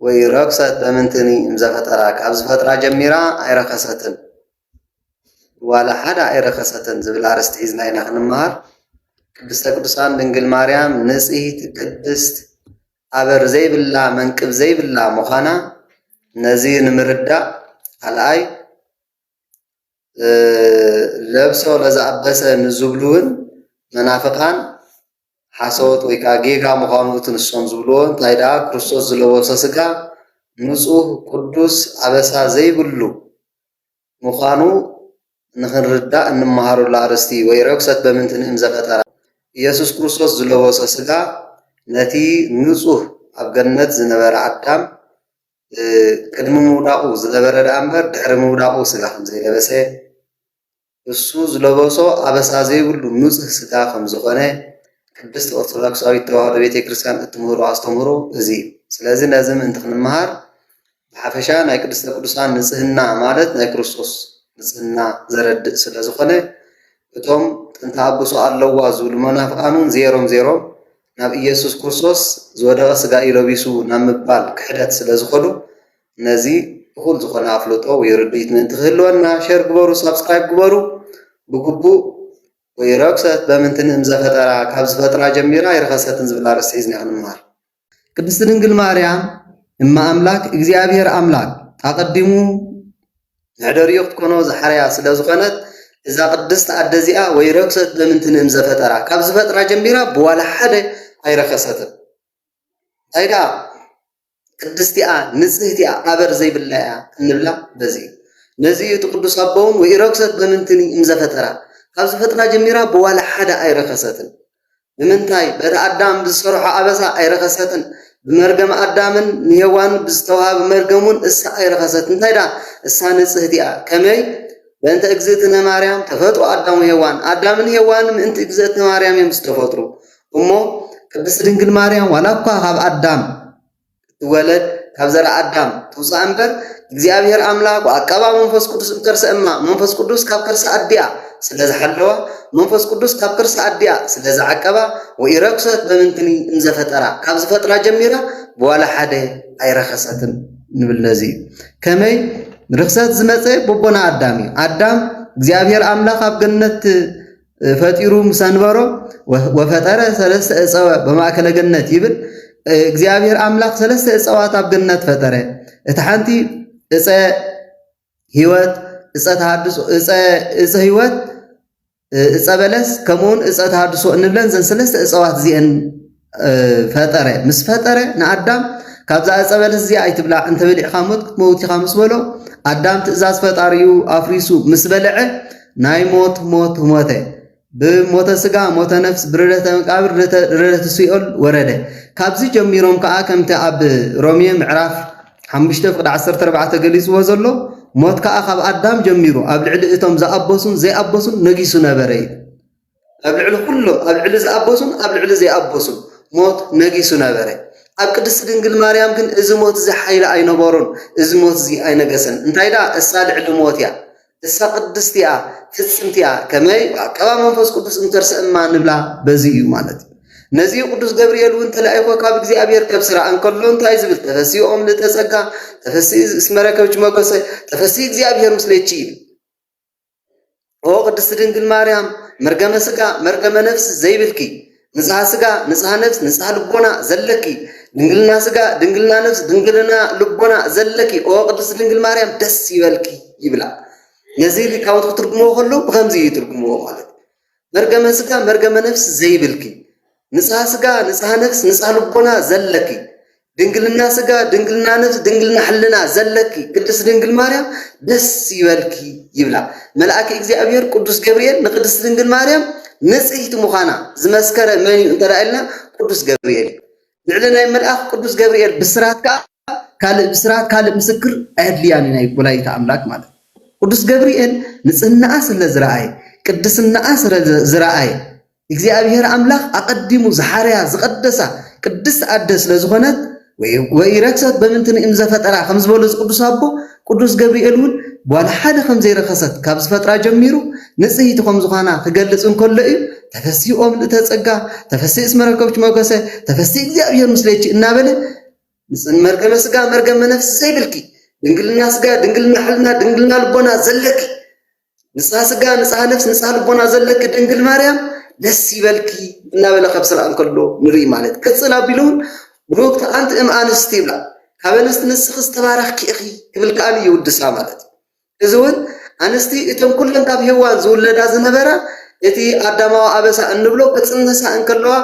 ወይ ረክሰት በምንትኒ እምዘ ፈጠራ ካብ ዝፈጥራ ጀሚራ ኣይረከሰትን ዋላ ሓደ ኣይረከሰትን ዝብል ኣርእስቲ ሒዝና ኢና ክንመሃር ቅድስተ ቅዱሳን ድንግል ማርያም ንጽሕቲ ቅድስት ኣበር ዘይብላ መንቅብ ዘይብላ ምዃና ነዚ ንምርዳእ ካልኣይ ለብሶ ለዘኣበሰ ንዝብሉውን መናፍቃን ሓሶት ወይ ከኣ ጌጋ ምዃኑ እቲ ንሶም ዝብልዎ እንታይ ደኣ ክርስቶስ ዝለበሶ ስጋ ንጹህ ቅዱስ ኣበሳ ዘይብሉ ምዃኑ ንኽንርዳእ እንመሃረሉ ኣርእስቲ እዩ ወይ ርኵሰት በምንቲ ንእም ዘፈጠራ ኢየሱስ ክርስቶስ ዝለበሶ ስጋ ነቲ ንጹህ ኣብ ገነት ዝነበረ ኣዳም ቅድሚ ምውዳቑ ዝነበረ ደኣ እምበር ድሕሪ ምውዳቑ ስጋ ከምዘይለበሰ ንሱ ዝለበሶ ኣበሳ ዘይብሉ ንጹህ ስጋ ከም ዝኾነ ቅድስት ኦርቶዶክሳዊት ተዋህዶ ቤተ ክርስቲያን እትምህሮ ኣስተምህሮ እዚ እዩ። ስለዚ ነዚ ምእንቲ ክንመሃር ብሓፈሻ ናይ ቅድስተ ቅዱሳን ንጽህና ማለት ናይ ክርስቶስ ንጽህና ዘረድእ ስለ ዝኾነ እቶም ጥንቲ ኣብሶ ኣለዋ ዝብሉ መናፍቃን እውን ዜሮም ዜሮም ናብ ኢየሱስ ክርስቶስ ዝወደቐ ስጋ እዩ ለቢሱ ናብ ምባል ክሕደት ስለ ዝኸዱ ነዚ እኹል ዝኾነ ኣፍልጦ ወይ ርድኢት ምእንቲ ክህልወና ሸር ግበሩ ሳብስክራይብ ግበሩ ብግቡእ ወይ ረግሰት በምንትን እምዘፈጠራ ካብ ዝፈጥራ ጀሚራ ኣይረኸሰትን ዝብል ኣርእስቲ ሒዝና ክንምሃር ቅድስት ድንግል ማርያም እመ ኣምላክ እግዚኣብሔር ኣምላክ ኣቐዲሙ መሕደሪኡ ክትኮኖ ዝሓረያ ስለ ዝኾነት እዛ ቅድስት ኣደ እዚኣ ወይ ረክሰት በምንትን እም ዘፈጠራ ካብ ዝፈጥራ ጀሚራ ብዋላ ሓደ ኣይረከሰትን እንታይ ደኣ ቅድስቲ'ያ ንጽህቲ'ያ ኣበር ዘይብላ'ያ እንብላ በዚ'ዩ። ነዚ'ዩ እቲ ቅዱስ ኣቦ'ውን ወኢረክሰት በምንትኒ እምዘፈጠራ፣ ካብ ዝፈጥራ ጀሚራ ብዋላ ሓደ ኣይረከሰትን። ንምንታይ? በቲ ኣዳም ብዝሰርሖ ኣበሳ ኣይረከሰትን፣ ብመርገም ኣዳምን ንሄዋንን ብዝተዋህበ መርገም'ውን እሳ ኣይረከሰትን፣ እንታይ ደኣ እሳ ንጽህቲ'ያ። ከመይ? በእንተ እግዝእትነ ማርያም ተፈጥሩ ኣዳም ወሄዋን፣ ኣዳምን ሄዋንን ምእንቲ እግዝእትነ ማርያም'ዮም ዝተፈጥሩ። እሞ ቅድስቲ ድንግል ማርያም ዋላ እኳ ካብ ኣዳም እትወለድ ካብ ዘር ኣዳም ትውፃእ እምበር እግዚኣብሔር ኣምላክ ወኣቀባ መንፈስ ቅዱስ እምከርሰ እማ መንፈስ ቅዱስ ካብ ከርሲ ኣዲኣ ስለ ዝሓለዋ መንፈስ ቅዱስ ካብ ከርሲ ኣዲኣ ስለ ዝዓቀባ ወኢረክሰት በምንትኒ እምዘፈጠራ ካብ ዝፈጥራ ጀሚራ ብዋላ ሓደ ኣይረኸሰትን ንብል ነዚ እዩ ከመይ ርክሰት ዝመፀ ቦቦና ኣዳም እዩ ኣዳም እግዚኣብሔር ኣምላክ ኣብ ገነት ፈጢሩ ምስ ኣንበሮ ወፈጠረ ሰለስተ እፀወ በማእከለ ገነት ይብል። እግዚኣብሔር ኣምላኽ ሰለስተ እፀዋት ኣብ ገነት ፈጠረ። እቲ ሓንቲ እፀ ህይወት፣ እፀ ተሃድሶ፣ እፀ ህይወት፣ እፀ በለስ ከምኡውን እፀ ተሃድሶ እንብለን ዘን ሰለስተ እፀዋት እዚአን ፈጠረ ምስ ፈጠረ ንኣዳም ካብዛ ዕፀ በለስ እዚኣ ኣይትብላዕ እንተበሊዕኻ ሞት ክትመውት ኢኻ ምስ በሎ ኣዳም ትእዛዝ ፈጣሪኡ ኣፍሪሱ ምስ በልዐ ናይ ሞት ሞት ሞተ ብሞተ ስጋ ሞተ ነፍስ ብርደተ መቃብር ርደተ ሲኦል ወረደ ካብዚ ጀሚሮም ከዓ ከምቲ ኣብ ሮሜ ምዕራፍ 5 ፍቅዲ 14 ገሊፅዎ ዘሎ ሞት ከዓ ካብ ኣዳም ጀሚሩ ኣብ ልዕሊ እቶም ዝኣበሱን ዘይኣበሱን ነጊሱ ነበረ እዩ ኣብ ልዕሊ ዅሎም ኣብ ልዕሊ ዝኣበሱን ኣብ ልዕሊ ዘይኣበሱን ሞት ነጊሱ ነበረ። ኣብ ቅድስቲ ድንግል ማርያም ግን እዚ ሞት እዚ ሓይሊ ኣይነበሮን፣ እዚ ሞት እዚ ኣይነገሰን። እንታይ ደኣ እሳ ልዕሊ ሞት እያ፣ እሳ ቅድስቲ እያ፣ ፍጽምቲ እያ። ከመይ ብኣቀባ መንፈስ ቅዱስ እንተርሰ እማ ንብላ በዚ እዩ ማለት እዩ። ነዚ ቅዱስ ገብርኤል እውን ተላኢኾ ካብ እግዚኣብሔር ከብ ስራ እንከሎ እንታይ ዝብል ተፈሲኦም ልተጸጋ ተፈሲ እስመረከብች መጎሰ ተፈሲ እግዚኣብሔር ምስሌቺ ይብል። ኦ ቅድስቲ ድንግል ማርያም መርገመ ስጋ መርገመ ነፍሲ ዘይብልኪ ንጽሃ ስጋ ንጽሃ ነፍስ ንጽሃ ልቦና ዘለኪ ድንግልና ስጋ ድንግልና ነፍስ ድንግልና ልቦና ዘለኪ ኦ ቅድስቲ ድንግል ማርያም ደስ ይበልኪ ይብላ ነዚ ሊቃውንት ክትርጉምዎ ከለዉ ብከምዚ ይትርጉምዎ ማለት እዩ መርገመ ስጋ መርገመ ነፍስ ዘይብልኪ ንጽሃ ስጋ ንጽሃ ነፍስ ንጽሃ ልቦና ዘለኪ ድንግልና ስጋ ድንግልና ነፍስ ድንግልና ሕልና ዘለኪ ቅድስት ድንግል ማርያም ደስ ይበልኪ ይብላ መልኣኪ እግዚኣብሔር ቅዱስ ገብርኤል ንቅድስት ድንግል ማርያም ንጽሕቲ ምዃና ዝመስከረ መን እዩ እንተ ኢልና ቅዱስ ገብርኤል እዩ ልዕሊ ናይ መልኣኽ ቅዱስ ገብርኤል ብስራት ከኣ ካልእ ብስራት ካልእ ምስክር ኣየድልያን እዩ ናይ ወላዲተ ኣምላክ ማለት ቅዱስ ገብርኤል ንጽህናኣ ስለ ዝረኣየ ቅድስናኣ ስለ ዝረኣየ እግዚኣብሔር ኣምላኽ ኣቐዲሙ ዝሓረያ ዝቐደሳ ቅድስቲ ኣደ ስለ ዝኾነት ወይ ረክሰት በምንትን እም ዘፈጠራ ከም ዝበሉ እዚ ቅዱስ ኣቦ ቅዱስ ገብርኤል እውን ጓል ሓደ ኸም ዘይረኸሰት ካብ ዝፈጥራ ጀሚሩ ንጽህይቲ ኸም ዝዃና ክገልጽ እንከሎ እዩ ተፈሲ ኦ ምልእተ ጸጋ ተፈሲ እስመ ረከብኪ ሞገሰ ተፈሲ እግዚኣብሔር ምስሌኪ እናበለ ንጽን መርገመ ስጋ መርገመ ነፍሲ ዘይብልኪ ድንግልና ስጋ ድንግልና ሕልና ድንግልና ልቦና ዘለኪ ንጽሃ ስጋ ንጽሃ ነፍስ ንጽሃ ልቦና ዘለኪ ድንግል ማርያም ደስ ይበልኪ እናበለ ካብ ስራእ እንከሎ ንርኢ ማለት ቅጽል ኣቢሉ እውን ብሩክቲ ኣንቲ እም ኣንስቲ ይብላ ካብ ኣንስቲ ንስኺ ዝተባረኽኪ ኢኺ ክብል ከኣ ይውድሳ ማለት እዩ እዚ እውን ኣንስቲ እቶም ኩለን ካብ ሄዋን ዝውለዳ ዝነበራ እቲ ኣዳማዊ ኣበሳ እንብሎ ክጽንሳ እንከለዋ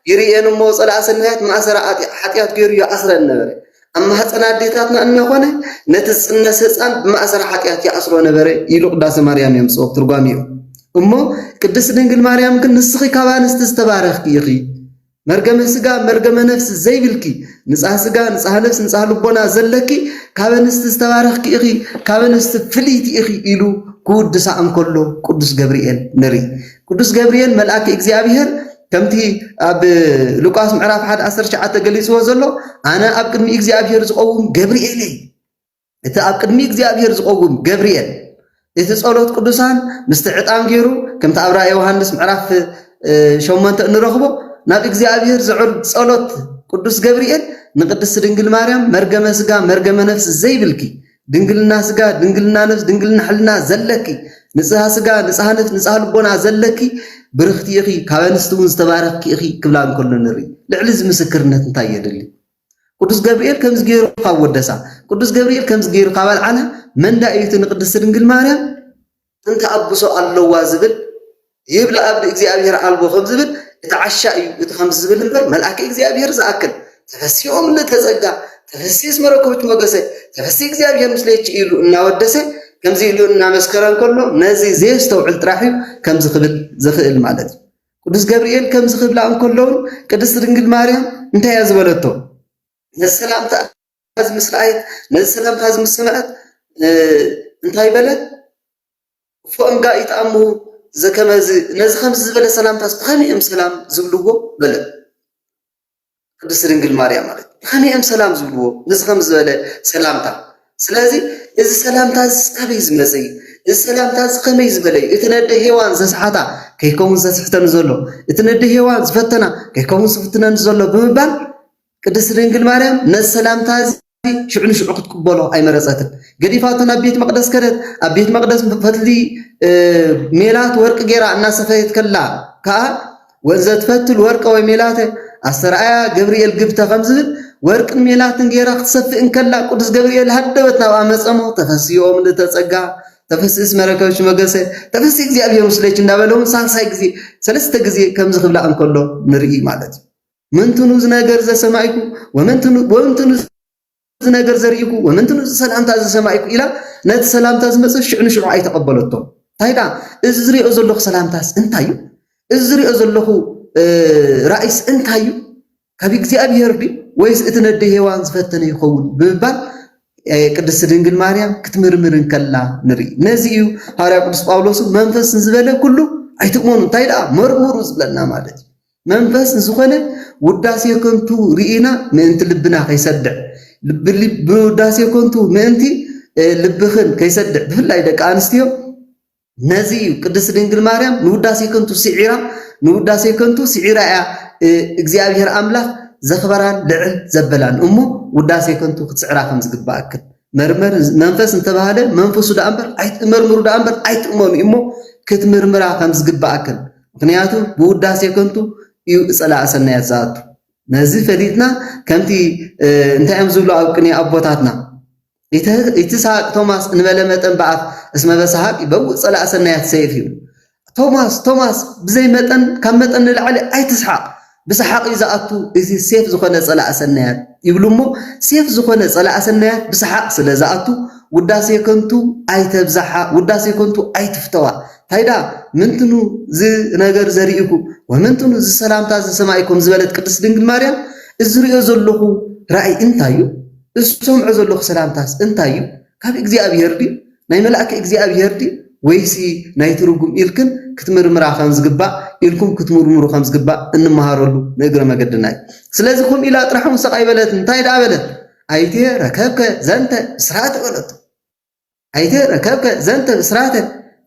ይርእየን እሞ ጸላእ ሰናያት ማእሰራ ሓጢኣት ገይሩ ይኣስረን ነበረ ኣብ ማህፀን ኣዴታትና እናኾነ ነቲ ዝፅነስ ህፃን ብማእሰር ሓጢኣት ይኣስሮ ነበረ ኢሉ ቅዳሴ ማርያም የምፅኦ ትርጓሚኡ እሞ ቅድስት ድንግል ማርያም ግን ንስኺ ካብ ኣንስቲ ዝተባረኽኪ ኢኺ መርገመ ስጋ መርገመ ነፍሲ ዘይብልኪ ንፃህ ስጋ ንፃህ ነፍሲ ንፃህ ልቦና ዘለኪ ካብ ኣንስቲ ዝተባረኽኪ ኢኺ ካብ ኣንስቲ ፍልይቲ ኢኺ ኢሉ ክውድሳ እንከሎ ቅዱስ ገብርኤል ንርኢ። ቅዱስ ገብርኤል መልኣኪ እግዚኣብሔር ከምቲ ኣብ ሉቃስ ምዕራፍ 1 19 ተገሊጽዎ ዘሎ ኣነ ኣብ ቅድሚ እግዚኣብሔር ዝቆውም ገብርኤል እየ። እቲ ኣብ ቅድሚ እግዚኣብሔር ዝቆውም ገብርኤል እቲ ጸሎት ቅዱሳን ምስቲ ዕጣን ገይሩ ከምቲ ኣብ ራእይ ዮሃንስ ምዕራፍ ሸሞንተ እንረኽቦ ናብ እግዚኣብሔር ዘዕርግ ጸሎት ቅዱስ ገብርኤል ንቅድስት ድንግል ማርያም መርገመ ስጋ መርገመ ነፍስ ዘይብልኪ ድንግልና ስጋ ድንግልና ነፍስ ድንግልና ሕልና ዘለኪ ንጽሃ ስጋ ንጽሃ ነፍስ ንጽሃ ልቦና ዘለኪ ብርኽቲ ኢኺ ካብ ኣንስቲ እውን ዝተባረኽኪ ኢኺ ክብላ እንከሎ ንርኢ ልዕሊ እዚ ምስክርነት እንታይ የድሊ ቅዱስ ገብርኤል ከምዚ ገይሩ ካብ ወደሳ ቅዱስ ገብርኤል ከምዚ ገይሩ ካብ ኣልዓላ መንዳ እዩ እቲ ንቅድስቲ ድንግል ማርያም ጥንቲ ኣብሶ ኣሎዋ ዝብል ይብላ ኣብዲ እግዚኣብሔር ኣልቦ ከም ዝብል እቲ ዓሻ እዩ እቲ ከምዚ ዝብል እምበር መልኣኪ እግዚኣብሔር ዝኣክል ተፈሲኦም እንተጸጋ ተፈሲስ መረኮብት ሞገሰ ተፈሲ እግዚኣብሔር ምስሌች ኢሉ እናወደሰ ከምዚ ኢሉ እናመስከረ እንከሎ ነዚ ዘየስተውዕል ጥራሕ እዩ ከምዚ ክብል ዝኽእል ማለት እዩ ቅዱስ ገብርኤል ከምዚ ክብላ እንከሎውን ቅድስት ድንግል ማርያም እንታይ እያ ዝበለቶ ነሰላምታ እዚ ምስ ረኣየት ነዚ ሰላምታ እዚ ምስ ሰምዐት እንታይ በለት? እፎእም ጋእ ይትኣሙ ዘከመዝ ነዚ ከምዚ ዝበለ ሰላምታስ ብኸመይ እዮም ሰላም ዝብልዎ? በለት። ቅድስት ድንግል ማርያም ማለት ብኸመይ እዮም ሰላም ዝብልዎ ነዚ ከም ዝበለ ሰላምታ? ስለዚ እዚ ሰላምታ እዚ ኣበይ ዝመፀ እዩ? እዚ ሰላምታ እዚ ከመይ ዝበለ እዩ? እቲ ነደ ሄዋን ዘስሓታ ከይከውን ዘስሕተኒ ዘሎ እቲ ነደ ሄዋን ዝፈተና ከይከውን ዝፍትነኒ ዘሎ ብምባል ቅድስቲ ድንግል ማርያም ነዚ ሰላምታ እዚ ሽዑ ንሽዑ ክትቅበሎ ኣይመረጸትን። ገዲፋቶ ናብ ቤት መቕደስ ከደት። ኣብ ቤት መቕደስ ፈትሊ ሜላት ወርቂ ጌራ እናሰፈየት ከላ ከኣ ወዘትፈትል ወርቀ ወይ ሜላተ ኣስተርኣያ ገብርኤል ግብተ ከም ዝብል ወርቅን ሜላትን ጌራ ክትሰፍእ እንከላ ቅዱስ ገብርኤል ሃደበት ናብ ኣመፀሞ ተፈስኦ ምልእተ ጸጋ ተፈሲ እስመ ረከብኪ መገሰ ተፈሲ እግዚኣብሔር ምስሌኪ እንዳበለ እውን ሳልሳይ ግዜ ሰለስተ ግዜ ከምዚ ክብላ እንከሎ ንርኢ ማለት እዩ። መንትኑ እዚ ነገር ዘሰማይኩ ወመንትኑ ወመንትኑ እዚ ነገር ዘርኢኩ ወመንትኑ እዚ ሰላምታ ዘሰማይኩ ኢላ ነቲ ሰላምታ ዝመጸ ሽዑ ንሽዑ ኣይተቐበለቶ እንታይ ደኣ እዚ ዝሪኦ ዘለኹ ሰላምታስ እንታይ እዩ እዚ ዝሪኦ ዘለኹ ራእይስ እንታይ እዩ ካብ እግዚኣብሄር ድዩ ወይስ እቲ ነደ ሄዋን ዝፈተነ ይኸውን ብምባል ቅድስቲ ድንግል ማርያም ክትምርምር እንከላ ንርኢ ነዚ እዩ ሃዋርያ ቅዱስ ጳውሎስ መንፈስ ንዝበለ ኩሉ ኣይትእመኑ እንታይ ደኣ መርምሩ ዝብለና ማለት እዩ መንፈስ ንዝኾነ ውዳሴ ከንቱ ርኢና ምእንቲ ልብና ከይሰድዕ ብውዳሴ ከንቱ ምእንቲ ልብኽን ከይሰድዕ ብፍላይ ደቂ ኣንስትዮ ነዚ እዩ ቅድስት ድንግል ማርያም ንውዳሴ ከንቱ ስዒራ ንውዳሴ ከንቱ ስዒራ እያ እግዚኣብሔር ኣምላኽ ዘኽበራን ልዕል ዘበላን እሞ ውዳሴ ከንቱ ክትስዕራ ከም ዝግባእክን መርመሪ መንፈስ እንተበሃለ መንፈሱ ደኣ እምበር ኣይትመርምሩ ደኣ እምበር ኣይትእመኑ እዩ እሞ ክትምርምራ ከም ዝግብኣክን ምክንያቱ ብውዳሴ ከንቱ እዩ እጸላእ ሰናያት ዝኣቱ ነዚ ፈሊጥና ከምቲ እንታይ እዮም ዝብሉ ኣብ ቅኔ ኣቦታትና ኢትስሃቅ ቶማስ እንበለ መጠን በኣፍ እስመ በሰሃቅ ይበውእ ጸላእ ሰናያት ሰይፍ እዩ ቶማስ ቶማስ ብዘይ መጠን ካብ መጠን ንላዕሊ ኣይትስሓቅ ብሳሓቅ እዩ ዝኣቱ እዚ ሴፍ ዝኮነ ጸላኢ ሰናያት ይብሉ እሞ ሴፍ ዝኮነ ጸላኢ ሰናያት ብሳሓቅ ስለ ዝኣቱ ውዳሴ ከንቱ ኣይተብዛሓ ውዳሴ ከንቱ ኣይትፍተዋ ታይዳ ምንትኑ ዝ ነገር ዘሪኢኩ ወምንትኑ ዝ ሰላምታ ዝ ሰማኢ ከም ዝበለት ቅድስት ድንግል ማርያም እዚ ሪኦ ዘለኩ ራኢ እንታይ እዩ እዚ ሰምዖ ዘለኩ ሰላምታስ እንታይ እዩ ካብ እግዚኣብሔር ድዩ ናይ መላእክ እግዚኣብሔር ድዩ ወይሲ ናይ ትርጉም ኢልክን ክትምርምራ ከም ዝግባእ ኢልኩም ክትምርምሩ ከም ዝግባእ እንመሃረሉ ንእግረ መገድና እዩ ስለዚ ከምኡ ኢላ ጥራሕ ውን ሰቃይ በለት እንታይ ደኣ በለት ኣይተ ረከብከ ዘንተ ብስራተ በለቶ ኣይተ ረከብከ ዘንተ ብስራተ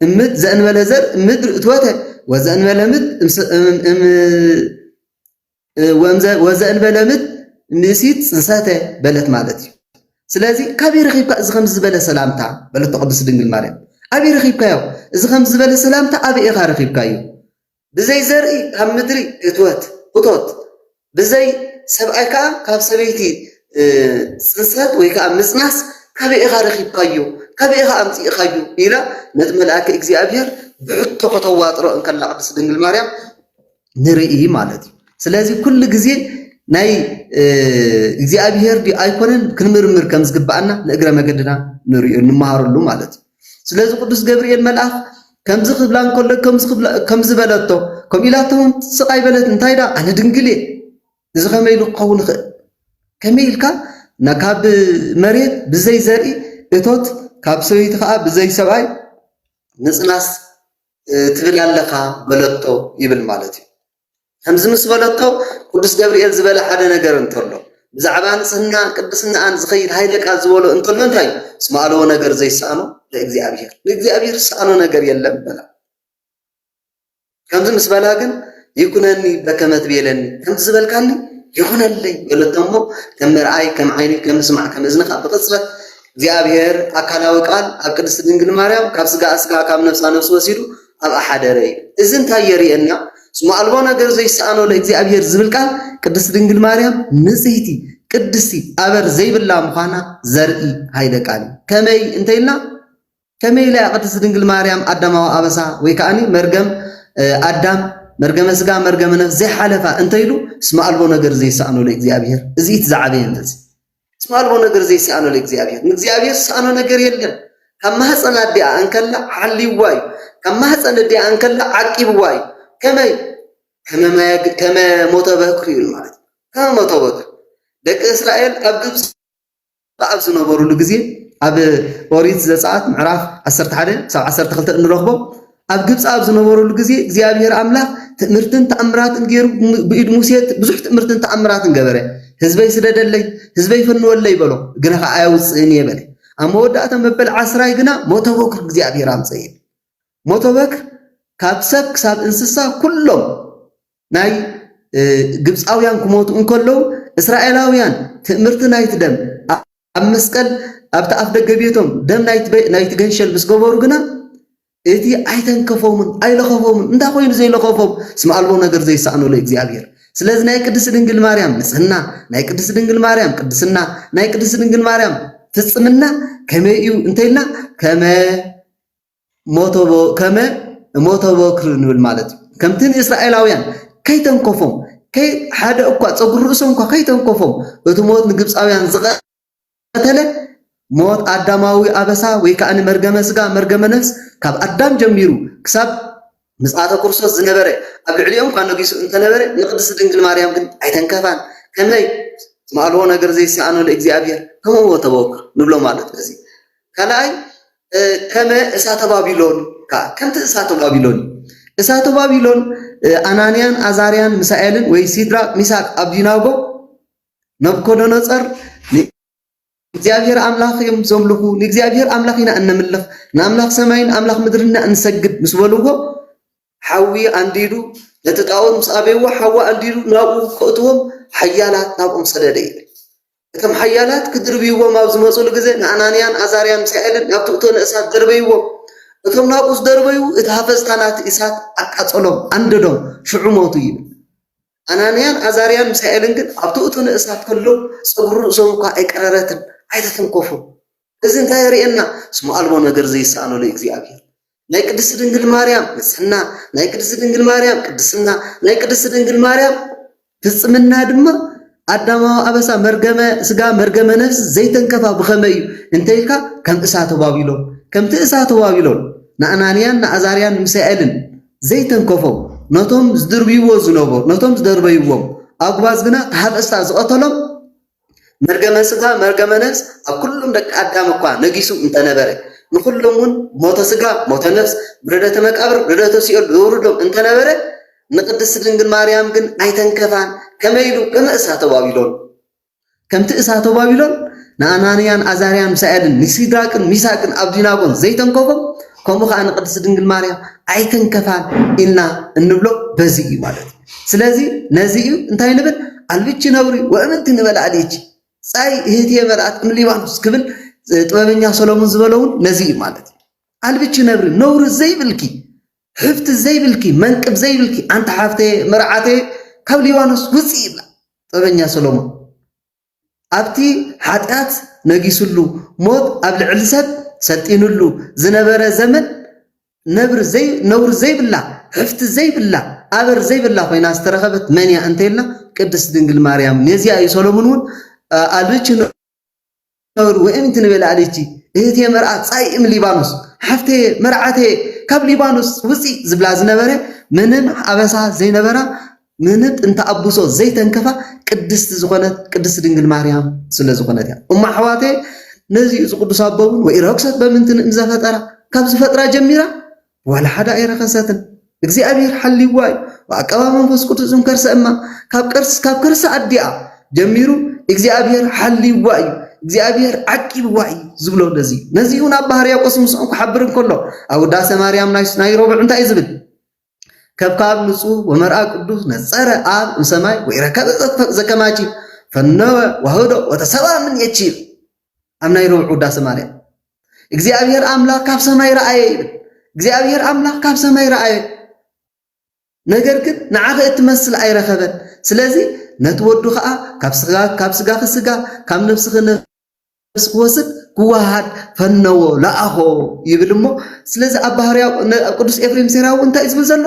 እምት ዘእንበለ ዘር እምድር እትወተ ወዘእንበለ ምት ወዘእንበለ ምት ንእሲት ጽንሰተ በለት ማለት እዩ። ስለዚ ካበይ ረኺብካ እዚ ከምዚ ዝበለ ሰላምታ በለቶ ቅድስት ድንግል ማርያም ኣበይ ረኺብካዮ እዚ ከምዚ ዝበለ ሰላምታ ኣበይ ኢኻ ረኺብካዮ ብዘይ ዘርኢ ካብ ምድሪ እትወት እቶት ብዘይ ሰብኣይ ከዓ ካብ ሰበይቲ ጽንሰት ወይ ከዓ ምጽናስ ካበይ ኢኻ ረኺብካዮ ካበይ ኢኻ ኣምጽእኻዮ ኢላ ነቲ መልኣከ እግዚኣብሔር ብሕቶ ከተዋጥሮ እንከላ ቅድስት ድንግል ማርያም ንርኢ ማለት እዩ። ስለዚ ኩሉ ግዜ ናይ እግዚኣብሄር ድዩ ኣይኮነን ክንምርምር ከም ዝግብኣና ንእግረ መገድና ንሪኦ ንመሃረሉ ማለት እዩ። ስለዚ ቅዱስ ገብርኤል መልኣኽ ከምዚ ክብላ እንከሎ ከምዚ በለቶ ከምኡ ኢላቶ እውን ስቕ ኣይበለት እንታይ ዳ ኣነ ድንግል እየ እዚ ከመይ ኢሉ ክኸውን ይኽእል ከመይ ኢልካ ካብ መሬት ብዘይ ዘርኢ እቶት ካብ ሰበይቲ ከዓ ብዘይ ሰብኣይ ምፅናስ ትብል ኣለኻ በለቶ ይብል ማለት እዩ። ከምዚ ምስ በለቶ ቅዱስ ገብርኤል ዝበለ ሓደ ነገር እንተሎ ብዛዕባ ንጽህናን ቅድስናኣን ዝኸይድ ሃይለ ቃል ዝበሎ እንተሎ እንታይ እዩ? እስመ ኣለዎ ነገር ዘይሰኣኖ ለእግዚኣብሔር ንእግዚኣብሔር ዝሰኣኖ ነገር የለን በላ። ከምዚ ምስ በላ ግን ይኩነኒ በከመ ትቤለኒ ከምዚ ዝበልካኒ ይኹነለይ በለቶ እሞ ከም መርኣይ ከም ዓይኒ ከም ምስማዕ ከም እዝንኻ ብቕጽበት እግዚኣብሔር ኣካላዊ ቃል ኣብ ቅድስት ድንግል ማርያም ካብ ስጋኣ ስጋ ካብ ነፍሳ ነፍሲ ወሲዱ ኣብኣ ሓደረ እዩ። እዚ እንታይ የርእየና? ስሙ ኣልቦ ነገር ዘይሰኣኖ ለእግዚኣብሔር ዝብል ቃል ቅድስት ድንግል ማርያም ንጽህቲ ቅድስቲ ኣበር ዘይብላ ምዃና ዘርኢ ሃይለ ቃል እዩ። ከመይ እንተይልና ከመይ ኢላ እያ ቅድስት ድንግል ማርያም ኣዳማዊ ኣበሳ ወይ ከኣኒ መርገም ኣዳም መርገመ ስጋ መርገመ ነፍስ ዘይሓለፋ እንተይሉ እስመ ኣልቦ ነገር ዘይሰኣኖ ለእግዚኣብሔር እዚ እቲ ዝዓበየ እንደዚ እስመ ኣልቦ ነገር ዘይሰኣኖ ለእግዚኣብሔር ንእግዚኣብሔር ዝሰኣኖ ነገር የለን ካብ ማህፀን ኣዲኣ እንከላ ሓልይዋ እዩ ካብ ማህፀን ኣዲኣ እንከላ ዓቂብዋ እዩ ከመይ ከመ ሞተ በክሪ እዩ ማለት ከመ ሞተ በክሪ ደቂ እስራኤል ኣብ ግብፂ ኹሉ ኣብ ዝነበሩሉ ግዜ ኣብ ኦሪት ዘጸኣት ምዕራፍ 11 ክሳብ 12 እንረኽቦ ኣብ ግብፂ ኣብ ዝነበሩሉ ግዜ እግዚኣብሔር ኣምላኽ ትእምርትን ተኣምራትን ገይሩ ብኢድ ሙሴ ብዙሕ ትእምርትን ተኣምራትን ገበረ ህዝበይ ስደደለይ ህዝበይ ፈንወለይ በሎ ግና ከዓ ኣየውፅእን እየ በለ ኣብ መወዳእታ መበል ዓስራይ ግና ሞተ በኩር እግዚኣብሔር ኣምፀ ሞተ በክር ካብ ሰብ ክሳብ እንስሳ ኩሎም ናይ ግብጻውያን ክሞቱ እንከለዉ እስራኤላውያን ትእምርቲ ናይቲ ደም ኣብ መስቀል ኣብቲ ኣፍ ደገ ቤቶም ደም ናይቲ ገንሸል ምስ ገበሩ ግና እቲ ኣይተንከፎምን ኣይለኸፎምን እንታይ ኮይኑ ዘይለኸፎም ስም ኣልቦ ነገር ዘይሰኣኖ ለእግዚኣብሔር ስለዚ ናይ ቅድስት ድንግል ማርያም ንጽህና ናይ ቅድስት ድንግል ማርያም ቅድስና ናይ ቅድስት ድንግል ማርያም ፍጽምና ከመይ እዩ እንተይልና ከመ ሞተቦ ከመ እሞተቦ ክርኢ ንብል ማለት እዩ። ከምቲ ንእስራኤላውያን ከይተንከፎም ሓደ እኳ ጸጉሪ ርእሶም እኳ ከይተንከፎም እቲ ሞት ንግብጻውያን ዝቐተለ ሞት ኣዳማዊ ኣበሳ ወይ ከኣ መርገመ ስጋ መርገመ ነፍስ ካብ ኣዳም ጀሚሩ ክሳብ ምጽኣተ ክርስቶስ ዝነበረ ኣብ ልዕሊኦም እኳ ነጊሱ እንተ ነበረ፣ ንቅድስቲ ድንግል ማርያም ግን ኣይተንከፋን። ከመይ? ትማልዎ ነገር ዘይሰኣኖ ለእግዚኣብሔር ከመ ሁወ ተበኩር ንብሎ ማለት በዚ እዩ። ካልኣይ ከመ እሳተ ባቢሎን ከኣ ከምቲ እሳተ ባቢሎን እዩ። እሳተ ባቢሎን ኣናንያን ኣዛርያን ሚሳኤልን ወይ ሲድራቅ ሚሳቅ ኣብዲናጎ ነብኮዶነጸር እግዚኣብሄር ኣምላኽ እዮም ዘምልኹ፣ ንእግዚኣብሄር ኣምላኽ ኢና እነምልኽ፣ ንኣምላኽ ሰማይን ንኣምላኽ ምድርን ኢና እንሰግድ ምስ በልዎ፣ ሓዊ ኣንዲዱ ነቲ ጣኦት ምስ ኣበይዎ፣ ሓዊ ኣንዲዱ ናብኡ ከእትዎም ሓያላት ናብኦም ሰደደ ይብል። እቶም ሓያላት ክድርብይዎም ኣብ ዝመፁሉ ግዜ ንኣናንያን ኣዛርያን ሚሳኤልን ናብቲ እቶ ንእሳት ደርበይዎም። እቶም ናብኡ ዝደርበዩ እቲ ሃፈዝታ ናቲ እሳት ኣቃጸሎም፣ ኣንደዶም፣ ሽዑ ሞቱ ይብል። ኣናንያን ኣዛርያን ሚሳኤልን ግን ኣብቲ እቶነ እሳት ከለዉ ጸጉሪ ርእሶም እኳ ኣይቀረረትን፣ ኣይተተንኮፉን። እዚ እንታይ የርእየና? ስሙ ኣልቦ ነገር ዘይሰኣኖ ልእግዚኣብሔር። ናይ ቅድስቲ ድንግል ማርያም ንጽሕና፣ ናይ ቅድስቲ ድንግል ማርያም ቅድስና፣ ናይ ቅድስቲ ድንግል ማርያም ፍጽምና ድማ ኣዳማዊ ኣበሳ መርገመ ስጋ መርገመ ነፍሲ ዘይተንከፋ ብኸመይ እዩ እንተይልካ ከም እሳተ ባቢሎን ከምቲ እሳተ ባቢሎን ንኣናንያን ንኣዛርያን ንሚሳኤልን ዘይተንከፎም ነቶም ዝድርብይዎ ዝነበሩ ነቶም ዝደርበይዎም ኣጉባዝ ግና ተሃፈስታ ዝቐተሎም መርገመ ስጋ መርገመ ነፍስ ኣብ ኩሎም ደቂ ኣዳም እኳ ነጊሱ እንተነበረ ንኹሎም እውን ሞተ ስጋ ሞተ ነፍስ ብረደተ መቃብር ብረደተ ሲኦል ዘውርዶም እንተነበረ ንቅድስት ድንግል ማርያም ግን ኣይተንከፋን ከመይ ኢሉ ከመእሳ ተባቢሎን ከምቲ እሳተ ባቢሎን ንኣናንያን ኣዛርያን ምሳኤልን ንሲድራቅን ሚሳቅን ኣብዲናጎን ዘይተንከፎም ከምኡ ከዓ ንቅድስት ድንግል ማርያም ኣይተንከፋን ኢልና እንብሎ በዚ እዩ ማለት እዩ። ስለዚ ነዚ እዩ እንታይ ንብል ኣልብቺ ነውሪ ወእምንቲ ንበል ኣልቺ ጻይ እህትየ መልኣት እምሊባኖስ ክብል ጥበበኛ ሰሎሞን ዝበለውን ነዚ እዩ ማለት እዩ። ኣልብቺ ነብሪ ነውሪ ዘይብልኪ ሕፍቲ ዘይብልኪ መንቅብ ዘይብልኪ ኣንታ ሓፍተየ መርዓተየ ካብ ሊባኖስ ውፅእ ይብላ ጠበኛ ሰሎሞን ኣብቲ ሓጢኣት ነጊስሉ ሞት ኣብ ልዕሊ ሰብ ሰልጢንሉ ዝነበረ ዘመን ነብሪ ዘይ ነውሪ ዘይብላ ሕፍቲ ዘይብላ ኣበር ዘይብላ ኮይና ዝተረኸበት መን እያ እንተይልና ቅድስት ድንግል ማርያም ነዚኣ እዩ ሰሎሞን እውን ኣልብች ነውሪ ወይም እቲ ንበላዕሊቲ እህቴ መርኣ ጻይእም ሊባኖስ ሓፍቴ መርዓቴ ካብ ሊባኖስ ውፂ ዝብላ ዝነበረ ምንም ኣበሳ ዘይነበራ ምንም ጥንተ ኣቡሶ ዘይተንከፋ ቅድስቲ ዝኾነት ቅድስቲ ድንግል ማርያም ስለ ዝኾነት እያ እሞ ኣሕዋቴ ነዚ እዚ ቅዱስ ኣቦውን ወይ ረክሰት በምንትን እምዘፈጠራ ካብ ዝፈጥራ ጀሚራ ዋላ ሓደ ኣይረኸሰትን እግዚኣብሔር ሓልይዋ እዩ ብኣቀባ መንፈስ ቅዱስ ዝንከርሰ እማ ካብ ቀርስ ካብ ከርሰ ኣዲኣ ጀሚሩ እግዚኣብሔር ሓልይዋ እዩ እግዚኣብሔር ዓቂብዋ እዩ ዝብሎ ነዚ ነዚ እውን ኣብ ባህር ያቆስ ምስኦም ክሓብር እንከሎ ኣብ ውዳሴ ማርያም ናይ ረቡዕ እንታይ እዩ ዝብል ከብካብ ንጹህ ወመርኣ ቅዱስ ነጸረ ኣብ እምሰማይ ወይረከበ ዘከማቺ ፈነወ ዋህዶ ወተሰባ ምን የቺ ኣብ ናይ ረቡዕ ውዳሴ ማርያም እግዚኣብሔር ኣምላኽ ካብ ሰማይ ረኣየ ይብል። እግዚኣብሔር ኣምላኽ ካብ ሰማይ ረኣየ፣ ነገር ግን ንዓኺ እትመስል ኣይረኸበን። ስለዚ ነቲ ወዱ ከዓ ካብ ስጋኺ ስጋ ካብ ነብስኺ ነብስ ክወስድ ክወሃድ ፈነዎ ለኣኾ ይብል እሞ ስለዚ ኣብ ባህርያ ቅዱስ ኤፍሬም ሴራዊ እንታይ ዝብል ዘሎ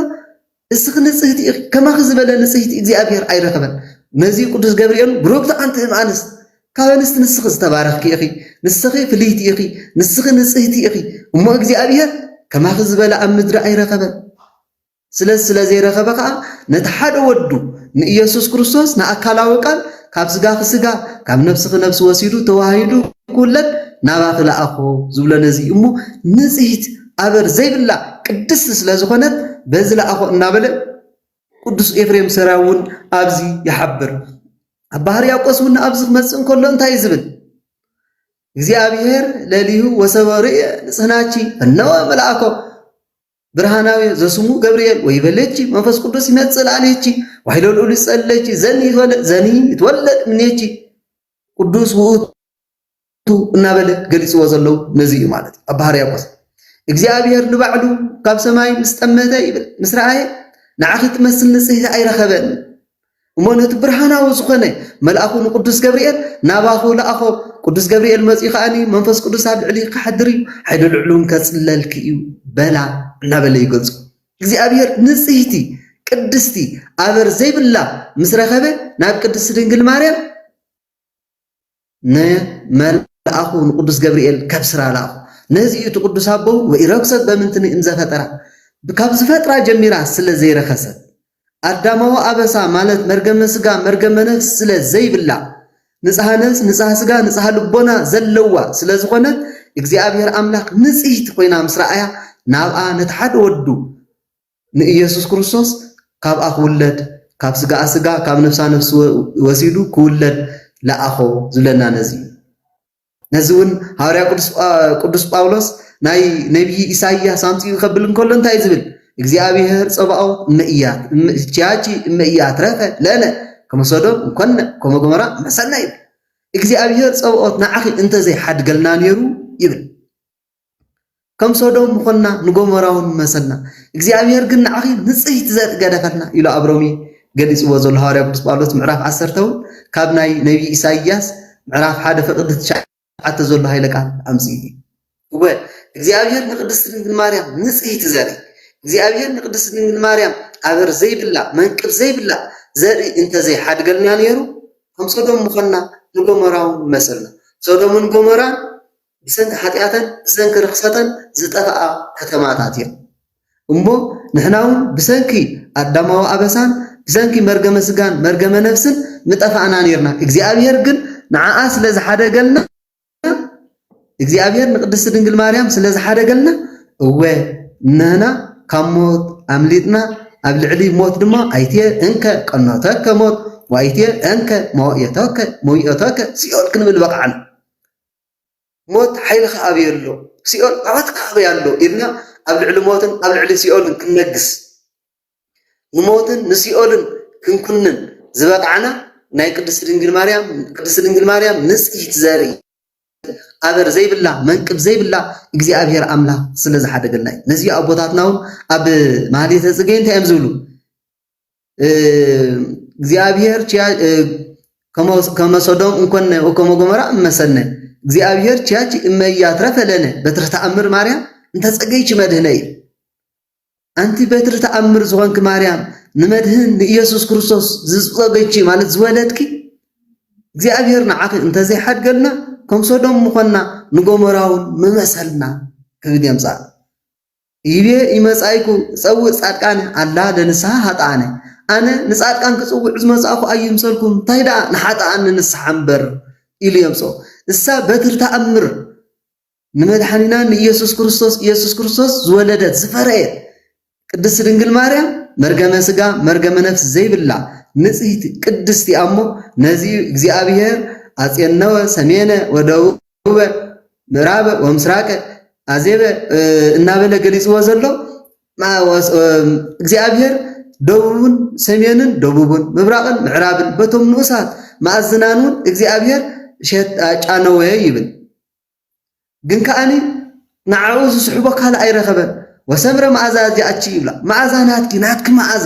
እስኺ ንጽህቲ ኢኺ ከማኺ ዝበለ ንጽህቲ እግዚኣብሔር ኣይረኸበን ነዚ ቅዱስ ገብርኤል ብሩክቲ ኣንቲ እም ኣንስት ካብ ኣንስት ንስኺ ዝተባረኽኪ ኢኺ ንስኺ ፍልይቲ ኢኺ ንስኺ ንጽህቲ ኢኺ እሞ እግዚኣብሔር ከማኺ ዝበለ ኣብ ምድሪ ኣይረኸበን ስለዚ ስለ ዘይረኸበ ከዓ ነቲ ሓደ ወዱ ንኢየሱስ ክርስቶስ ንኣካላዊ ቃል ካብ ስጋኺ ስጋ ካብ ነፍስኺ ነፍሲ ወሲዱ ተዋሂዱ ክውለድ ናባኺ ለኣኾ ዝብሎ ነዚ እሞ ንጽሕት ኣበር ዘይብላ ቅድስቲ ስለዝኾነት በዚ ለኣኾ እናበለ ቅዱስ ኤፍሬም ሰራይ እውን ኣብዚ ይሓብር። ኣባ ሕርያቆስ እውን ኣብዚ ክመጽእ እንከሎ እንታይ እዩ ዝብል? እግዚኣብሔር ለሊሁ ወሰበ ርእየ ንጽህናቺ እነወ መልኣኮ ብርሃናዊ ዘስሙ ገብርኤል ወይ በለቺ መንፈስ ቅዱስ ይመጽእ ላዕሌቺ ዋይሎ ልዑል ይጸለቺ ዘኒ ይትወለድ ዘኒ ይትወለድ እምኔቺ ቅዱስ ውእቱ ቱ እናበለ ገሊጽዎ ዘሎ ነዚ እዩ ማለት እዩ። ኣባ ሕርያቆስ እግዚኣብሔር ንባዕሉ ካብ ሰማይ ምስ ጠመተ ይብል ምስ ረኣየ ንዓኺ ትመስል ንጽሕቲ ኣይረኸበን እሞ ነቲ ብርሃናዊ ዝኾነ መልኣኹ ንቅዱስ ገብርኤል ናባኹ ለኣኾ ቅዱስ ገብርኤል መጺኡ ከዓኒ መንፈስ ቅዱስ ኣብ ልዕሊ ክሓድር እዩ ሓይሊ ልዕሉን ከጽለልኪ እዩ በላ እናበለ ይገልጹ እግዚኣብሔር ንጽህቲ ቅድስቲ ኣበር ዘይብላ ምስ ረኸበ ናብ ቅድስቲ ድንግል ማርያም ንመልኣኹ ንቅዱስ ገብርኤል ካብ ስራ ለኣኹ። ነዚ እዩ እቲ ቅዱስ ኣቦ ወኢረክሰት በምንትኒ እምዘፈጠራ ካብ ዝፈጥራ ጀሚራ ስለ ዘይረኸሰት ኣዳማዊ ኣበሳ ማለት መርገመ ስጋ መርገመ ነፍስ ስለ ዘይብላ ንጽሃ ነፍስ ንጽሃ ስጋ ንጽሃ ልቦና ዘለዋ ስለ ዝኾነት እግዚኣብሔር ኣምላኽ ንጽህቲ ኮይና ምስ ረኣያ ናብኣ ነቲ ሓደ ወዱ ንኢየሱስ ክርስቶስ ካብኣ ክውለድ ካብ ስጋኣ ስጋ ካብ ነፍሳ ነፍሲ ወሲዱ ክውለድ ለኣኾ ዝብለና ነዚ እዩ። ነዚ እውን ሃዋርያ ቅዱስ ጳውሎስ ናይ ነቢይ ኢሳይያስ ኣምፂኡ ከብል እንከሎ እንታይ ዝብል እግዚኣብሔር ጸባኦት እመእያት ቻቺ እመእያት ረፈ ለነ ከመሶዶም እንኮነ ከመጎመራ መሰና ይብል እግዚኣብሔር ጸባኦት ንዓኺ እንተዘይሓድገልና ነይሩ ይብል ከም ሶዶም ምኾንና ንጎሞራውን ምመሰልና እግዚኣብሔር ግን ንዓኺ ንጽህቲ ዘርኢ ገደፈልና ኢሉ ኣብ ሮሜ ገሊጽዎ ዘሎ ሃዋርያ ቅዱስ ጳውሎስ ምዕራፍ ዓሰርተ ውን ካብ ናይ ነብዪ ኢሳይያስ ምዕራፍ ሓደ ፍቅዲ ትሽዓተ ዘሎ ሃይለ ቃል ኣምጺኡ እዩ እወ እግዚኣብሔር ንቅድስቲ ድንግል ማርያም ንጽህቲ ዘርኢ እግዚኣብሔር ንቅድስቲ ድንግል ማርያም ኣበር ዘይብላ መንቅብ ዘይብላ ዘርኢ እንተዘይ ሓድገልና ነይሩ ከም ሶዶም ምኾንና ንጎሞራውን ምመሰልና ሶዶምን ጎሞራን ብሰንኪ ሓጢኣተን ብሰንኪ ርኽሰተን ዝጠፍኣ ከተማታት እየን። እሞ ንሕና እውን ብሰንኪ ኣዳማዊ ኣበሳን ብሰንኪ መርገመ ስጋን መርገመ ነፍስን ምጠፋእና ነርና። እግዚኣብሔር ግን ንዓኣ ስለ ዝሓደገልና እግዚኣብሔር ንቅድስቲ ድንግል ማርያም ስለ ዝሓደገልና እወ ንህና ካብ ሞት ኣምሊጥና ኣብ ልዕሊ ሞት ድማ ኣይትየ እንከ ቀኖተከ ሞት ወኣይትየ እንከ መዋእዮተከ መዊኦተከ ሲኦል ክንብል በቕዓና። ሞት ሓይልኻ ኣበይ ኣሎ? ሲኦል ዓወትካ ኣበይ ኣሎ? ኢልና ኣብ ልዕሊ ሞትን ኣብ ልዕሊ ሲኦልን ክንነግስ ንሞትን ንሲኦልን ክንኩንን ዝበቓዕና ናይ ቅድስቲ ድንግል ማርያም ቅድስቲ ድንግል ማርያም ንጽሕቲ ዘርኢ ኣበር ዘይብላ መንቅብ ዘይብላ እግዚኣብሔር ኣምላኽ ስለ ዝሓደገልና እዩ። ነዚ ኣቦታትና እውን ኣብ ማህሌተ ጽጌ እንታይ እዮም ዝብሉ? እግዚኣብሔር ከመሶዶም እንኮነ ወከመጎመራ እመሰነ እግዚኣብሔር ችያች እመያትረፈ ለነ በትረ ተኣምር ማርያም እንተጸገይች መድህነ እዩ ኣንቲ በትሪ ተኣምር ዝኾንኪ ማርያም ንመድህን ንኢየሱስ ክርስቶስ ዝጸገይች ማለት ዝወለድኪ እግዚኣብሔር ንዓኺ እንተዘይሓድገልና ከም ሶዶም ምኾንና ንጎመራውን ምመሰልና ክብል የምጻእ ኢብየ ኢመጻኢኩ እጸውእ ጻድቃነ ኣላ ለንስሃ ሃጥኣነ ኣነ ንጻድቃን ክጽውዕ ዝመጻእኩ ኣይምሰልኩም ታይ ደኣ ንሓጥኣን ንንስሓ እምበር ኢሉ የምጽኦ እሳ በትሪ ተኣምር ንመድሓኒና ንኢየሱስ ክርስቶስ ኢየሱስ ክርስቶስ ዝወለደት ዝፈረየት ቅድስት ድንግል ማርያም መርገመ ስጋ መርገመ ነፍስ ዘይብላ ንጽህቲ ቅድስቲ ኣሞ ነዚ እግዚኣብሔር ኣጼነወ ሰሜነ ወደቡብ ደቡበ፣ ምዕራበ ወምስራቀ፣ ኣዜበ እናበለ ገሊፅዎ ዘሎ እግዚኣብሔር ደቡብን ሰሜንን ደቡብን ምብራቕን ምዕራብን በቶም ንኡሳት መኣዝናን እውን እግዚኣብሔር ሸጣጫነወ ይብል ግን ከዓኒ ንዓኡ ዝስሕቦ ካልእ ኣይረኸበን ወሰምረ መዓዛ እዚኣቺ ይብላ መዓዛ ናትኪ ናትኪ መዓዛ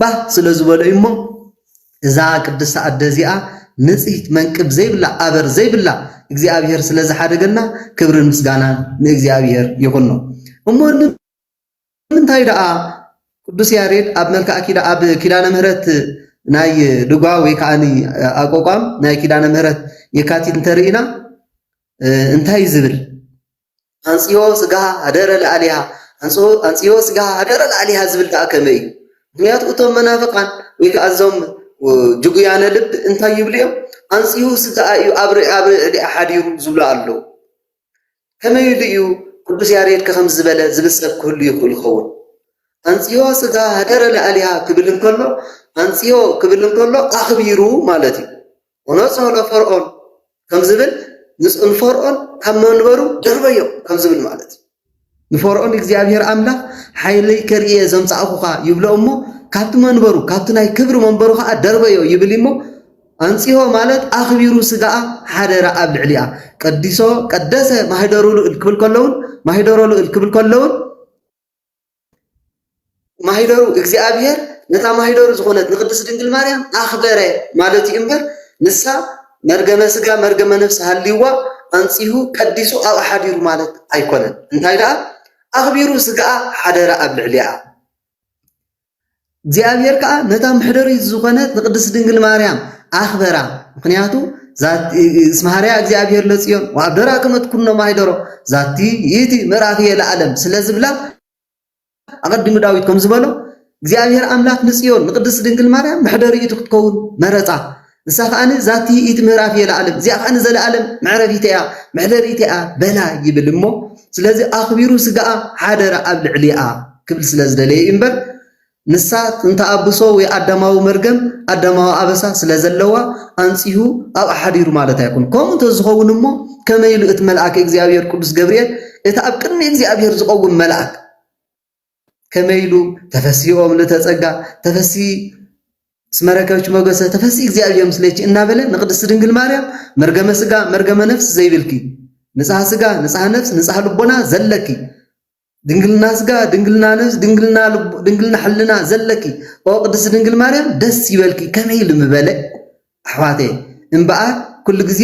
ባህ ስለ ዝበሎ እዩ እሞ እዛ ቅድስቲ ኣደ እዚኣ ንጽህት መንቅብ ዘይብላ ኣበር ዘይብላ እግዚኣብሔር ስለ ዝሓደገና ክብርን ምስጋናን ንእግዚኣብሔር ይኹኖ እሞ ንምንታይ ደኣ ቅዱስ ያሬድ ኣብ መልክዓ ኣብ ኪዳነ ምህረት ናይ ድጓ ወይ ከዓ ኣቋቋም ናይ ኪዳነ ምህረት የካቲት እንተርኢና እንታይ ዝብል ኣንጽሆ ስጋሃ ሀደረ ለኣሊሃ ኣንጽሆ ስጋሃ ሀደረ ለኣሊሃ ዝብል ከኣ ከመይ እዩ? ምኽንያቱ እቶም መናፍቃን ወይ ከኣ እዞም ጅጉያነ ልብ እንታይ ይብሉ እዮም? ኣንጽሁ ስጋኣ እዩ ኣብ ርዕሊኣ ሓዲሩ ዝብሉ ኣለዉ። ከመይ ኢሉ እዩ ቅዱስ ያሬድ ከ ከምዚ ዝበለ ዝብል ሰብ ክህሉ ይኽእል ይኸውን? ኣንጽሆ ስጋሃ ሀደረ ለኣሊሃ ክብል እንከሎ ኣንጽሆ ክብል እንከሎ ኣኽቢሩ ማለት እዩ። ወነጽሆ ፈርኦን ከም ዝብል ምስ ንፈርኦን ካብ መንበሩ ደርበዮ ከም ዝብል ማለት እዩ። ንፈርኦን እግዚኣብሔር ኣምላኽ ሓይለይ ከርእየ ዘምጻእኹኻ ይብሎ እሞ ካብቲ መንበሩ ካብቲ ናይ ክብሪ መንበሩ ከዓ ደርበዮ ይብል እሞ ኣንጽሆ ማለት ኣኽቢሩ ስጋኣ ሓደረ ኣብ ልዕሊኣ ቀዲሶ ቀደሰ ማህደሩ ልእል ክብል ከለውን ማህደሮ ልእል ክብል ከለውን ማኅደሩ እግዚኣብሔር ነታ ማኅደሩ ዝኾነት ንቅድስት ድንግል ማርያም ኣኽበረ ማለት እዩ እምበር ንሳ መርገመ ሥጋ መርገመ ነፍስ ሃልይዋ ኣንጺሁ ቀዲሱ ኣብኣ ሓዲሩ ማለት ኣይኮነን። እንታይ ደኣ ኣኽቢሩ ሥግኣ ሓደረ ኣብ ልዕሊኣ። እግዚኣብሔር ከዓ ነታ ምሕደሪት ዝኾነት ንቅድስት ድንግል ማርያም ኣኽበራ ምክንያቱ እስመ ሐረያ እግዚኣብሔር ለጽዮን ወአብደራ ከመ ትኩኖ ማኅደሮ ዛቲ ይእቲ ምዕራፍየ ለዓለም ስለ ዝብላ ኣቐዲሙ ዳዊት ከም ዝበሎ እግዚኣብሔር ኣምላክ ንጽዮን ንቅድስት ድንግል ማርያም መሕደሪኢቱ ክትከውን መረጻ ንሳ ኸኣ እዛ ትይኢት ምዕራፍ እየ ለኣለም እዚኣ ኸኣ ዘለኣለም መዕረፊተ እያ መሕደሪተ እያ በላ ይብል እሞ ስለዚ ኣኽቢሩ ስጋኣ ሓደረ ኣብ ልዕሊኣ ክብል ስለ ዝደለየ እዩ እምበር ንሳ ጥንተ ኣብሶ ወይ ኣዳማዊ መርገም ኣዳማዊ ኣበሳ ስለ ዘለዋ ኣንጺሁ ኣብ ኣሓዲሩ ማለት ኣይኮኑ ከምኡ እንተዝኸውን እሞ ከመይ ኢሉ እቲ መልኣከ እግዚኣብሔር ቅዱስ ገብርኤል እቲ ኣብ ቅድሚ እግዚኣብሔር ዝቐውም መልኣክ ከመይ ኢሉ ተፈስሂ ኦም ልተጸጋ ተፈስሂ እስመ ረከብኪ ሞገሰ ተፈስሂ እግዚኣብሔር ምስሌኪ እናበለ ንቅድስት ድንግል ማርያም መርገመ ስጋ መርገመ ነፍስ ዘይብልኪ ንጽሃ ስጋ ንጽሃ ነፍስ ንጽሃ ልቦና ዘለኪ ድንግልና ስጋ ድንግልና ነብስ ድንግልና ድንግልና ሕልና ዘለኪ ኦ ቅድስት ድንግል ማርያም ደስ ይበልኪ ከመይ ኢሉ ምበለ ኣሕዋተየ እምበኣር ኩሉ ግዜ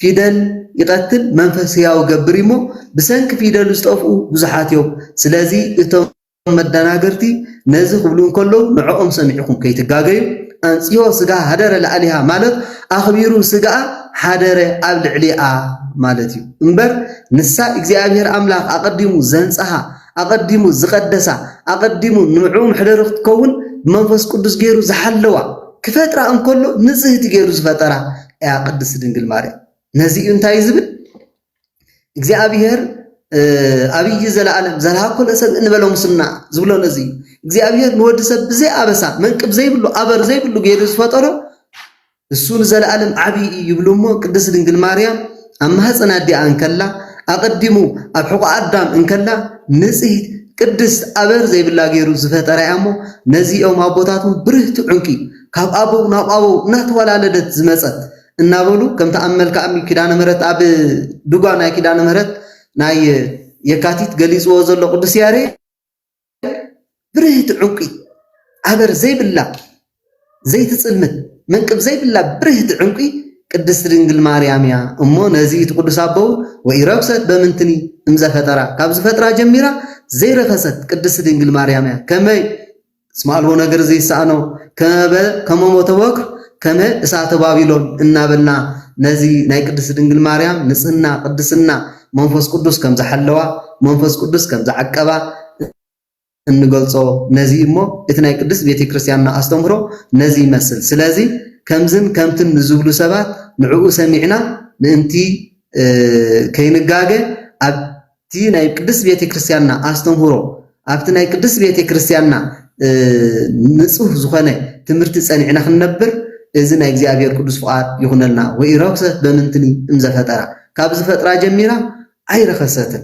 ፊደል ይቀትል መንፈስ ህያው ይገብር እዩ እሞ ብሰንኪ ፊደሉ ዝጠፍኡ ብዙሓት እዮም ስለዚ እቶም መዳናገርቲ ነዚ ክብሉ እንከለዉ ንዕኦም ሰሚዕኩም ከይትጋገዩ ኣንጽሆ ስጋ ሃደረ ልኣሊሃ ማለት ኣኽቢሩ ስጋኣ ሓደረ ኣብ ልዕሊኣ ማለት እዩ እምበር ንሳ እግዚኣብሔር ኣምላኽ ኣቀዲሙ ዘንጽሃ ኣቐዲሙ ዝቐደሳ፣ ኣቐዲሙ ንዑ መሕደሪ ክትከውን ብመንፈስ ቅዱስ ገይሩ ዝሓለዋ፣ ክፈጥራ እንከሎ ንጽህቲ ገይሩ ዝፈጠራ እያ ቅድስቲ ድንግል ማርያም። ነዚ እዩ እንታይ ዝብል እግዚኣብሔር ኣብይ ዘለኣለም ዘልሃኮነ ሰብ እንበለ ሙስና ዝብሎ ነዚ እዩ እግዚኣብሔር ንወዲ ሰብ ብዘይ ኣበሳ መንቅብ ዘይብሉ ኣበር ዘይብሉ ገይሩ ዝፈጠሮ እሱ ንዘለኣለም ዓብዪ እዩ ይብሉ እሞ ቅድስት ድንግል ማርያም ኣብ ማህፀን ኣዲኣ እንከላ ኣቐዲሙ ኣብ ሕቖኣ ኣዳም እንከላ ንፅህት ቅድስት ኣበር ዘይብላ ገይሩ ዝፈጠራ እያ እሞ ነዚ እዮም ኣቦታት እውን ብርህቲ ዑንቂ ካብ ኣበው ናብ ኣበው እናተወላለደት ዝመፀት እናበሉ ከምቲ ኣብ መልክኣ እምኒ ኪዳነ ምሕረት ኣብ ድጓ ናይ ኪዳነ ምሕረት ናይ የካቲት ገሊፅዎ ዘሎ ቅዱስ ያሬድ ብርህቲ ዑንቂ ኣበር ዘይብላ ዘይትጽልምት መንቅብ ዘይብላ ብርህቲ ዑንቂ ቅድስት ድንግል ማርያም እያ እሞ ነዚ እቲ ቅዱስ ኣቦውን ወኢረክሰት በምንትኒ እምዘፈጠራ ካብ ዝፈጥራ ጀሚራ ዘይረከሰት ቅድስት ድንግል ማርያም እያ ከመይ እስመ ኣልቦ ነገር ዘይሰኣኖ ከመበ ከመሞ ተወክር ከመ እሳተ ባቢሎን እናበልና ነዚ ናይ ቅድስት ድንግል ማርያም ንጽህና ቅድስና መንፈስ ቅዱስ ከም ዝሓለዋ መንፈስ ቅዱስ ከም ዝዓቀባ እንገልጾ ነዚ እሞ እቲ ናይ ቅድስት ቤተ ክርስቲያንና ኣስተምህሮ ነዚ ይመስል ስለዚ ከምዝን ከምትን ንዝብሉ ሰባት ንዕኡ ሰሚዕና ምእንቲ ከይንጋገ ኣብቲ ናይ ቅድስት ቤተ ክርስቲያንና ኣስተምህሮ ኣብቲ ናይ ቅድስት ቤተ ክርስቲያንና ንጹህ ዝኾነ ትምህርቲ ጸኒዕና ክንነብር እዚ ናይ እግዚኣብሔር ቅዱስ ፍቓድ ይኹነልና። ወኢረክሰት በምንትኒ እምዘፈጠራ ካብ ዝፈጥራ ጀሚራ ኣይረኸሰትን።